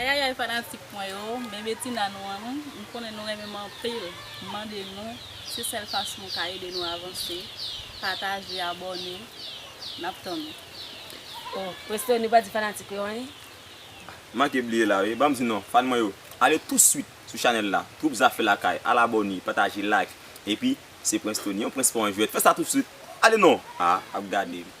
Ayayay fanatik mwen yo men betina nou an non m konnen nou renmenm anpil m mande nou se sèl fason nou ka ede nou avanse pataje abòne nap tann nou. Oh Westerny ou pa di fanatik ou yo anyen? M manke bliye la wi, banm di non fan mwen yo ale tou swit sou chanèl la Twoup Zafè Lakay al abòne, pataje, like epi se Prince Tony yon prens pa yon jwèt fè sa tou swit ale non ah ap gade m.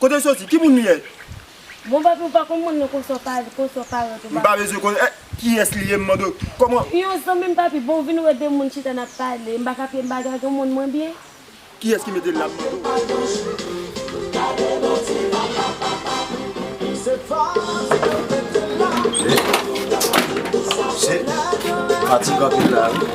Kote w soti? Ki moun li ye? Bon papi ou pa konn moun nan konsa w pa al konsa w pa ront ou pa. M pa bezwen konnen eh kiyès li ye m mande w kòman. Yon zanmi m papi bon w vin wè de moun chita nap pale m pa ka fye m pa dragon moun mwen byen. Kiyès ki mete l la m mande w.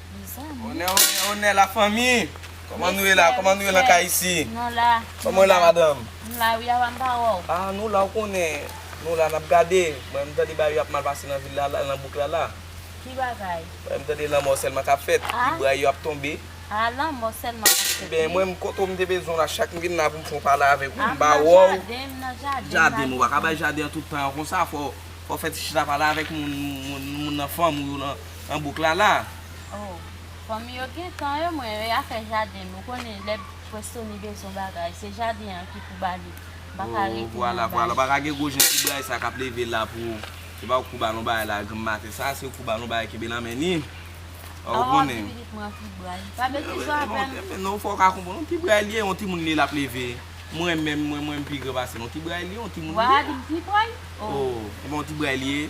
Onè la fanmi Koman nou ye la Koman nou ye nan kay isi Koman nou ye la madanm Ah nou la ou konnen Nou la nap gade Mwen m tande bagay yo ap mal pase nan vil la nan bouk la la Mwen m tande lanmò sèlman kap fèt Ti bway yo ap tonbe Ebyen mwen m kote w m te bezwen w la chak m vin la pou m fè yon pale avèk ou m ba wè w Jaden m ou pa ka bay jaden an tout tan an konsa fò w fè ti chita pale avèk moun nan fanm ou yo nan an bouk la la. Oh fanmi yo gentan yo mwen yo ya fè jaden m ou konnen lè Prestoni bezwen bagay se jaden an ki pou ba li m pa ka rete nan ba li. Ou pa ka gen gwo jan ti bray sa kap leve la pou se pa ou k pou ba l yon bagay la granm maten sa se ou k pou ba l yon bagay kenbe nan men li oh ou konnen. Awa di pitit mwen an ti bray li pa betize w avè m. Non fò w ka konprann yon ti bray li ye yon timoun li ye lap leve mwen menm mwen m pi gran pase l yon ti bray li ye yon timoun li ye. Wa di m ti bray oh. Oh epi yon ti bray li ye.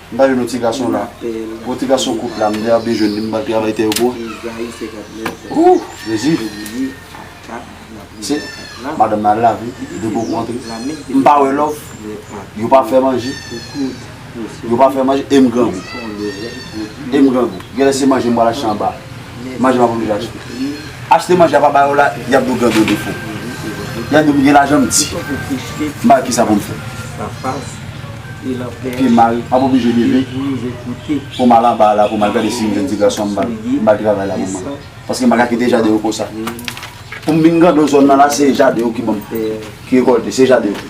M pa jwenn yon ti gason la. Yon ti gason kout la m ta bejwenn li m pral travay tè yo pou ou. Ooh jezi. Se madanm nan al lave de pou kou antre. M pa wè love. Yo pa fè manje. Yo pa fè manje e m grangou. E m grangou. Genlè se manje m pral achte anba. Manje map oblije achte. Achte manje a pa ba yo la yap di w gen gwo defo. Yap di m gen lajan m di m pa wè kisa pou m fè. Pye m mal map oblije leve pou m al anba a la pou m al gade si m jwenn ti gason an m ba l. M ba l travay la pou mwen. Paske m pa ka kite jaden yo konsa. Pou m vin grandon zòn nan la se jaden yo ki ban m ki rekòlte se jaden yo.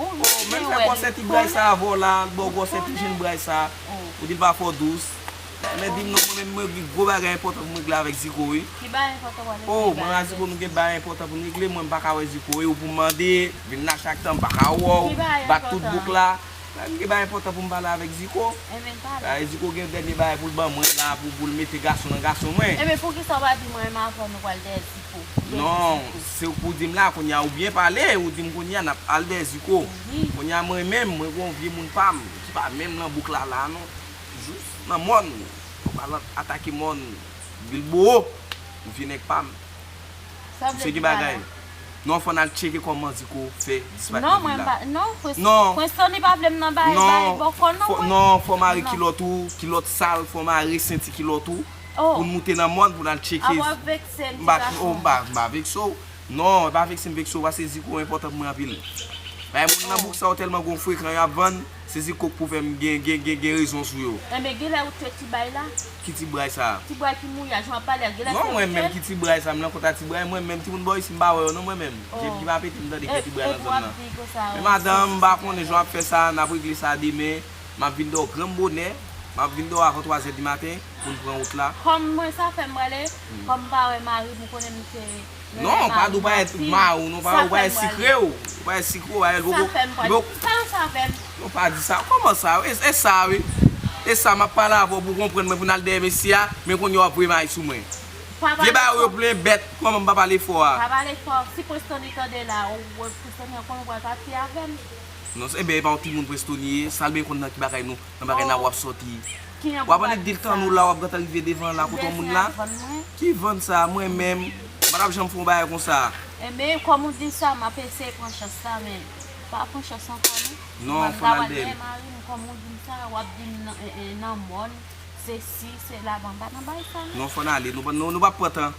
Ou vin Oh menm byen lè wè gwòsè li ti bray sa a vò la li baw gwòsè ti jenn bray sa a ou dil pa fò dous men dim non mwen menm mwen gen gwo bagay enpòtan poum regle avèk Ziko wi Ki bagay enpòtan wap regle Oh mwen a Ziko nou gen bagay enpòtan poun regle mwen mpaka wè Ziko e ou poum mande vin nan chak tan mpaka wè w bat tout bouk la Bagay mgen bagay enpòtan poum pale avèk Ziko Ebyen pale Bagay Ziko gen dènye bagay poul ban mwen la poul mete gason nan gason mwen Ebyen poukisa ou pa di mwen menm avèw nou pral dèdi. pou Dèzuko. Non, se ou k pou di m la, kounya ou byen pale, ou di m kounya n ap al Dèzuko. Kounya mwen menm, mwen gen yon vye moun pa m ki pa menm nan bouk Lala a non. Jous nan mòn, ou pa al atake mòn Bilboo, ou vye nèg pa m. Sa w vle di pa la? Non, fò n al tcheke kòman Zuko fè disparèt nan vil la. Non, mwen pa, non, Prens Tony pa vle m nan bay bòkò non mwen. Non, fò w mare kilòt ou, kilòt sal, fò w mare senti kilòt ou. Pou n moute nan mòn pou n al tcheke. Ap vekse m ti gason. Oh m pa m pa vekse w. Non e pa vekse m vekse w pase ziko w enpòtan pou mwen anpil. Bay moun nan bouk sa yo tèlman gon frekan y ap vann, se ziko k pou fè m gen gen gen gen rezon sou yo. Enben genlè ou te ti bray la? Ki ti bray sa? Ti bray ki mouye a, jan w ap pale a, genlè se ou te? Non mwen menm ki ti bray sa, m nan kont a ti bray mwen menm timoun bò isi m pa wè yo non mwen menm. Je m ki pa pete m tande k gen ti bray nan zòn nan. Men madanm m pa konnen jan w ap fè sa, n ap regle sa demen. M ap vin dò granm bonè M ap vin dò avan twazè di maten Pou n pran wout la. Kòm mwen sa fè m prale Kòm m pa wè mari m ou konnen m se Non pa di w pa èt mari w non pa ou pa èt sikre w Ou pa èt sikre w a Li poko Li poko Sa ou sa fè m Non pa di sa Kòman sa E sa wi E sa m ap pale avè w pou w konprann mwen pou n al dèyè mesye a Men kounye a w ap voye may sou mwen Vye bagay ou yo plen bèt Kòman m pa pale fò a Pa pale fò Si Prestonny tande la Ou wè Prestonny an konnen ou pral pati avè m. Non se ben e pa yon timoun Prestoni ye, sal ben konn nan ki bagay nou, nan bagay nan wap sòti. Wap annik dil tan nou la wap gentan rive devan la kote yon moun la. Ki vann sa, mwen menm, m patap janm fè yon bagay konsa. Enben, kòm ou di sa, map eseye pran chans la men m pa pran chans ankò non. Non, fon al bèl. Mwen m ta pral bèl marim kòm ou dim sa, wap dim nan mòn, se si, se la, bon m pa nan bagay sa non. Non fon ale, nou pap pran tan.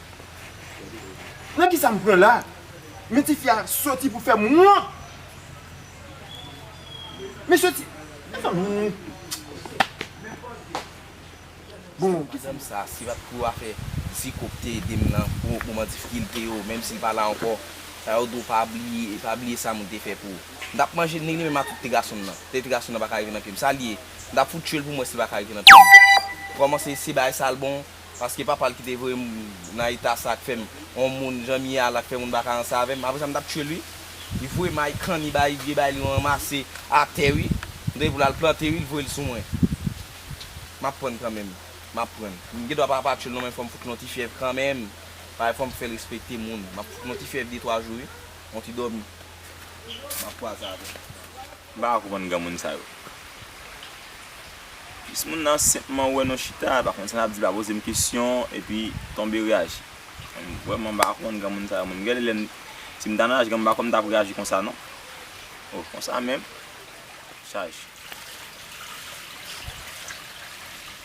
Nan kisa m pran la? Men ti fi a soti pou fè m wont. Men soti An fè m jwenn li. Bon. Medam sa si pat pou afè Ziko ki te ede m nan pou moman difikilte yo menm si l pa la ankò sa yo dou pa bliye e pa bliye sa moun te fè pou ou. M tap manje ni li menm ak ti gason m nan. Tèt ti gason m nan pa ka rive nan pye m. Sa l ye? M tap fout tye l pou m wè si l pa ka rive nan pye m. Kòmanse se bay sa l bon Paske papa l ki te voye m nan eta sa k fè m yon moun jan m ye a la k fè moun pa ka ranse avè m apre sa m t ap tye l wi li voye m ay kanni bay vye bay li m ranmase atè wi m te gen pou l al plante wi l voye l sou mwen m ap prann kanmenm m ap prann m gen dwa pa pa tye l non men fò m fout l yon ti fyèv kanmenm paske fò m fè l respekte moun m ap fout l yon ti fyèv de twa jou wi yon ti dòmi m ap kwaze avè l. M pa ka konprann granmoun sa yo. Jis moun nan senpman wè nou chita, l pa konn sa l ap di, l pa poze m kesyon, epi tonbe reyaji. M vrèman m pa ka konprann granmoun sa yo menm. Gade lè m, si m ta nan laj granmoun m pa kwè m ta ap reyaji konsa non. Oh konsa menm? Chaj.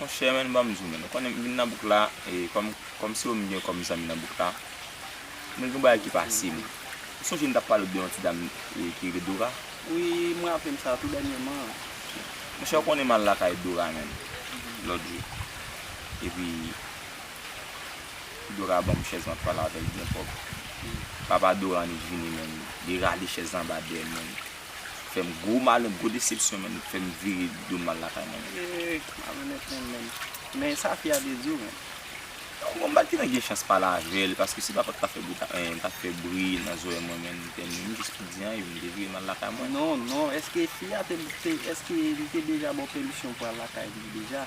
Monchè men banm di w men, ou konnen m vin nan bouk la e kòm kòm se ou m gen kòm zanmi nan bouk la, men gen yon bagay ki pase m. Ou sonje m t ap pale w de yon ti dam ki rele Dora? Wi, m raple m sa tou dènyèman an. Monchè ou konnen m al lakay Dora menm lòt jou, epi Dora ban m chèz m ap pale avè l byen pwòp. Papa Dora an li vini menm, li rale chèz la anba dèyè l menm. fèm gwo malè gwo desepsyon menn fèm vire dom al lakay mwen menn. Eee malonèt nèg menn. Men sa fi a te di w menn. Bon m pat gentan gen chans pale avèl paske si papa t ka fè bri ta en ta fè bri nan zorèy mwen menn tèlman menm jis pou di anyen m te vire m al lakay mwen. Non non eske fi a te eske li te deja ba w pèmisyon pou al lakay li deja?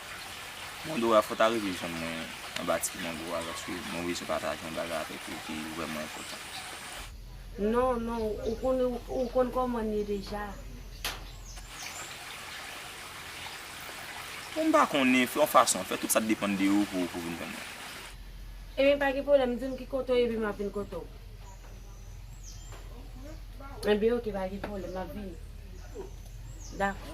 Mondo a fò ta rive jwenn mwen anba ti mondo a paske mwen bezwen pataje yon bagay avèk ou ki vrèman enpòtan. Non non ou konn ou konn kòmanl ye deja. Bon m pa konnen, fè yon fason, fè tout sa k depann de ou pou ou vin jwenn mwen. Ebyen pa gen pwoblèm di m ki kote w ye epi m ap vin kote w. Ebyen ok pa gen pwoblèm m ap vini. Dakò.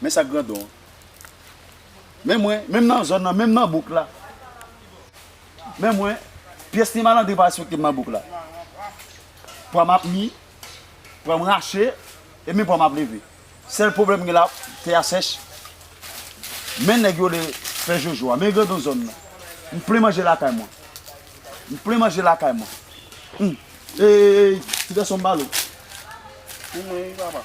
Men sak grandon an. Men mwen, menm nan zòn nan, menm nan bouk la. Men mwen, pyès ni malandrin pa respekte m nan bouk la. Pwa m ap mi, pwa m rache, e menm pwa m ap leve. Sèl pwoblèm m gen la, tè a sèch. Men nèg yo le fè jojo a. Men grandon zòn nan. M plen manje lakay mwen. M plen manje lakay mwen. Eyy, ti gason m bal ou. Pou mwen wi papa.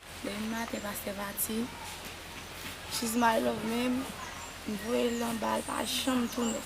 Demen maten pastè pati. She's my love men m voye l anba l pa janm tounen.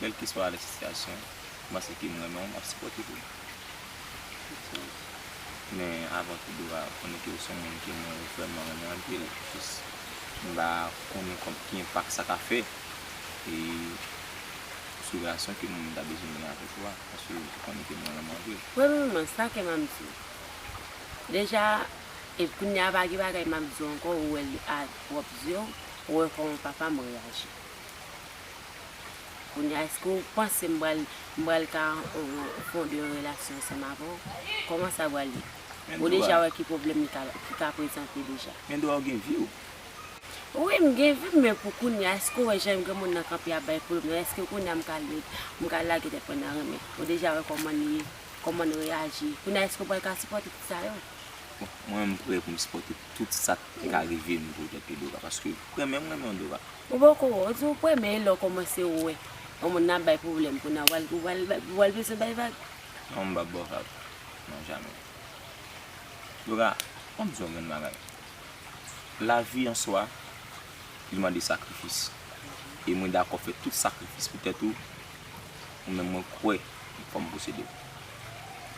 Kelkeswa lè sitiyasyon, m panse ke m renmen w, m ap sipòte w. Men avan tou dwa konnen ke w se yon moun ke mwen vrèman renmen anpil, jis m pa konnen kòm ki enpak sa ka fè sou relasyon ke m ta bezwen gen avèk ou a, paske w konnen ke mwen renmen w anpil. Premyeman, sa ke m ap di w, deja, epi kounye a pa gen bagay m ap di w ankò, ou wè li a pwòp zye w, ou wè kòman papa m reyaji. Kounya eske ou panse m pral m pral ka fonde yon relasyon ansanm avè w? Kòman sa pral ye? Ou deja wè ki pwoblèm li ka ki ka prezante deja. Gen dwa ou gen vi w. Wi m gen vi m men pou kounya eske ou wè jan granmoun nan kanpe ap bay pwoblèm la eske kounya m ka led m ka lage tèt mwen nan renmen? Ou deja wè kòman l ye, kòman l reyaji. Kounya eske ou pral ka sipòte tout sa yo? Bon mwen m prè pou m sipòte. Tout sa k te ka rive m pou tèt Odoka paske mwen menm m renmen Odoka. Ou poko wè, ou di ou premye lè ou kòmanse wè yon moun nan bay pwoblèm pou nan wal ou wal bezwen bay vag. Non m pap ba w vag non jamè. Odoka fò m di w yon grenn bagay lavi an swa li mande sakrifis e mwen dakò fè tout sakrifis pou tèt ou ou menm mwen kwè m fò m posede w.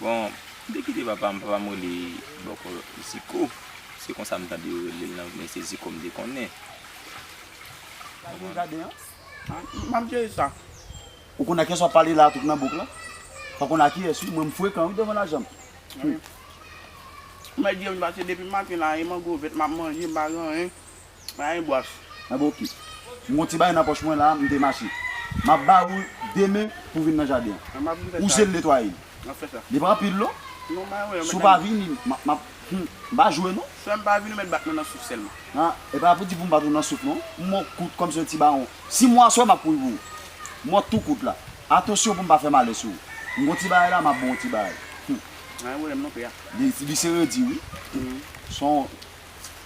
Bon, m te kite papa m, papa m rele bòkò Ziko, se konsa m tande yo rele l nan, men se Ziko m te konnen. M ap jere sa. Ou konn akiyès w ap pale la a tout nan bouk la? Ou konn akiyès wi, mwen m frekan wi devan lajan m. Mèt di yo m pase depi maten la e mango vèt m ap manje, m pa gen anyen. Mwen gen bwach. Mwen gen oki. M gon ti bagay nan pòch mwen la, m te mache. M ap ba ou de men pou vin nan jaden an. Ou je l netwaye l. Li pa anpil non. Si w pa vini, m ap. Hum! M pa jwe non. Frè m pa vini ou mèt bat mwen nan souf sèlman. Ha! E pa pou di pou m bat ou nan souf non. M mò kout kòm si yon ti bawon. Si m wè aswè m ap kouri pou ou. M mò tou kout la. Atansyon pou m pa fè malè sou ou. M gon ti bagay la, m ap ba w yon ti bagay. Hum! Mwen gen pwoblèm non pè a. Li se redi wi. Hum! Son.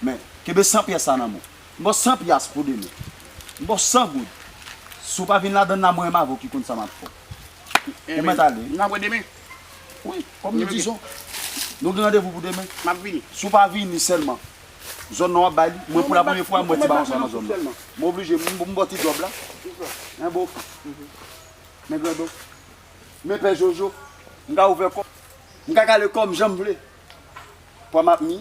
Men, kenbe 100 pyès la nan men w. M ba w 100 pyas pou demen. M ba w 100 goud. Si w pa vin ladann la, mwen menm avè w ki konn sa m ap fè. Ou mèt ale wi. N ap wè demen. Wi, kòm li di son. Nou gen randevou pou demen. M ap vini. Si w pa vini sèlman, zòn nan w ap bay li. Mwen pou la premye fwa, m wè ti bawon sa nan zòn nan. M oblije, m ba w ti djòb la. Men Bofre. Men Grandon. Men Pè Jojo. M ka ouvè kò m. M ka kale kò m jan m vle. Pwa m ap mi,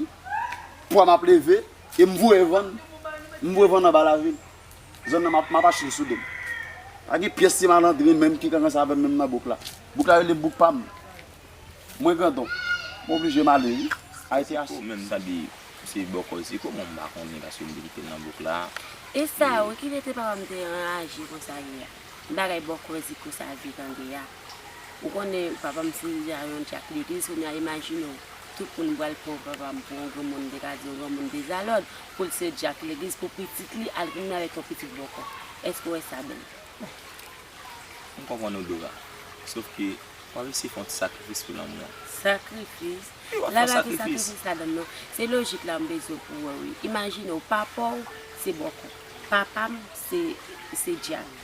pwa m ap leve, e m voye vann. M voye vann anba lavil. Zòn nan m ap achte l sou do m. Pa gen pyès ti malandren menm ki ka ranse avè m menm nan bouk la. Bouk la rele bouk pa m. Mwen grandon. M oblije m ale wi. Ayiti a. Ziko menm sa di se bòkò ziko bon m pa konnen paske m te kite l nan bouk la. E sa wi ki mete papa m te anraje konsa ye a. Bagay bòkò ziko sa a zye tande a. Ou konnen papa m se deja yon djak legliz kounya imajine w tout moun bwal pran papa m pou yon granmoun m te ka di yon granmoun dezalòd pou l se djak legliz pou pitit li al goumen avèk yon pitit bòkò èske w wè sa bèl? Bon m konprann ou Dora sof ke wap eseye fè yon ti sakrifis pou lanmou an. Sakrifis? Wi wap fè yon sakrifis. La pa gen sakrifis ladann non. Se lojik la m bezwen pou w wè wi. Imajine w papa w se bòkò papa m se djak.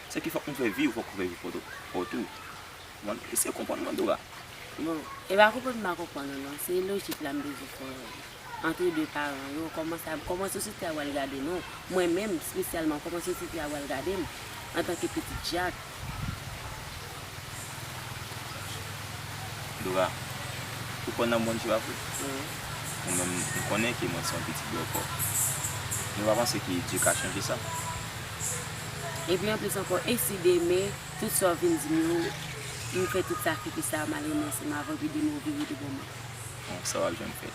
Sa ki fòk nou fè vi ou fòk ou fè vi poto paw tou ou konprann eseye konprann mwen Dora. Bon e pa konprann m pa konprann ou non se lojik la m bezwen fè wè li antre 2 paran yo kòman sa kòman sosyete a pral gade nou mwen menm spesyalman kòman sosyete a pral gade m antanke pitit Jak. Dora ou kwè nan Bondye a vre? Wi. Mwen menm m konnen ke mwen se yon pitit bòkò men m pa panse ke Dye ka chanje sa. Epi anplis ankò, e si demen, tout sa w vin di m yo, m fè tout sakrifis sa a malgre m ansent m avan epi demen ou vire devan mwen? Bon, sa w ap janm fè.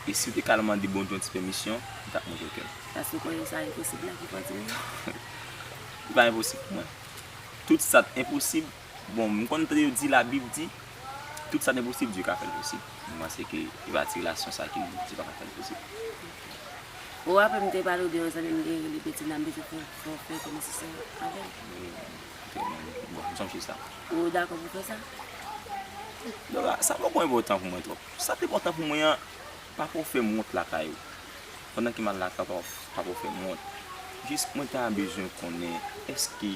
E si w te ka al mande Bondye yon ti pèmisyon, li t ap montre w kè l. Paske w konnen sa enposib la ki pran timoun nan. Li pa enposib pou mwen. Tout sa t enposib Bon, m konn tande yo di labib di, tout sa ne posib Dye ka fèl posib. M panse ke e pa ti relasyon sa ki di Dye pa ka fèl posib. Ou raple m te pale w de yon zanmi m gen rele Betina m bezwen fè fè w fè kè nesesè avè l. Wi, trè byen, bon m sonje sa. Ou dakò pou fè sa? Dora, sa poko enpòtan pou mwen twòp. Sa ki enpòtan pou mwen an, pa fè w fè m wont lakay ou. Pandan ke m al lakay ou pa fè w fè m wont. Jis mwen ta bezwen konnen eske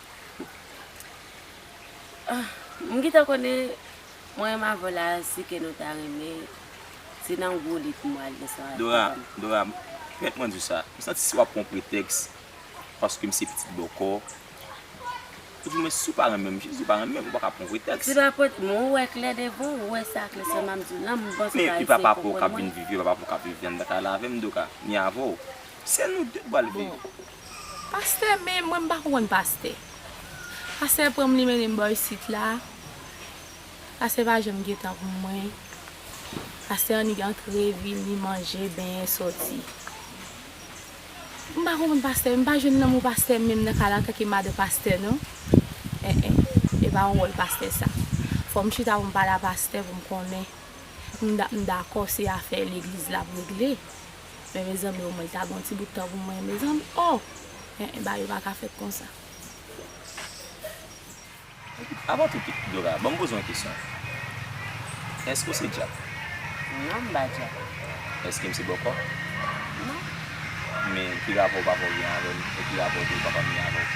M gentan konnen mwen m avèw la si ke nou ta renmen se nan gwo li pou mwen al gen sa. Dora, Dora fèt mwen diw sa, m santi si wap pran pretèks paske m se pitit bòkò epi mwen si w pa renmen m, jezi ou pa renmen m ou paka pran pretèks. Se pa pretèks, men ou wè klè devan ou, ou wè sa klè sèlman m diw la, m panse ou ka eseye konprann mwen. Men e papa paw kap vin viv, e papa paw kap viv vyan nan kay la avèm Dora, ni avèw. Se nou de k pral viv. Bon. Pastè men mwen m pa konprann pastè. Pastè pran m li mennen m bò isit la. Pastè pa janm gen tan pou mwen. Pastè annik antre vini manje benyen soti. M pa konprann pastè. M pa jwenn lanmou pastè menm nan kay la antanke madan pastè non. Eh eh. E pa yon wòl pastè sa. Fò m chita pou m pale a pastè pou m konnen. M dakò se afè legliz l ap regle. Men mezanmi o mwen ta gen yon ti bout tan pou mwen mezanmi oh eh eh bagay yo paka fèt konsa. Avan tout Dora banm poze yon kesyon Eske ou se djab? Non m pa djab. Eske m se bòkò? Non. Men ki rapò papa w gen avè m e ki rapò tou papa m gen avè w?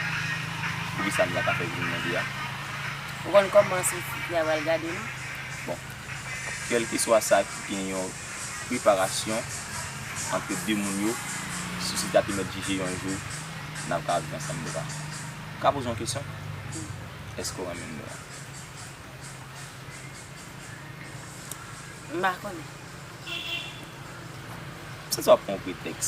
Poukisa m la ka fè vini mande a? Ou konn kòman sou sit la pral gade non. Bon. Kèlkeswa sa ki gen yon preparasyon antre 2 moun yo sosyete a te mèt jije yon jou n ap ka viv ansanm nou pa. M ka poze yon kesyon? Èske w renmen m nou an? M pa konnen. M santi w ap pran yon pretèks.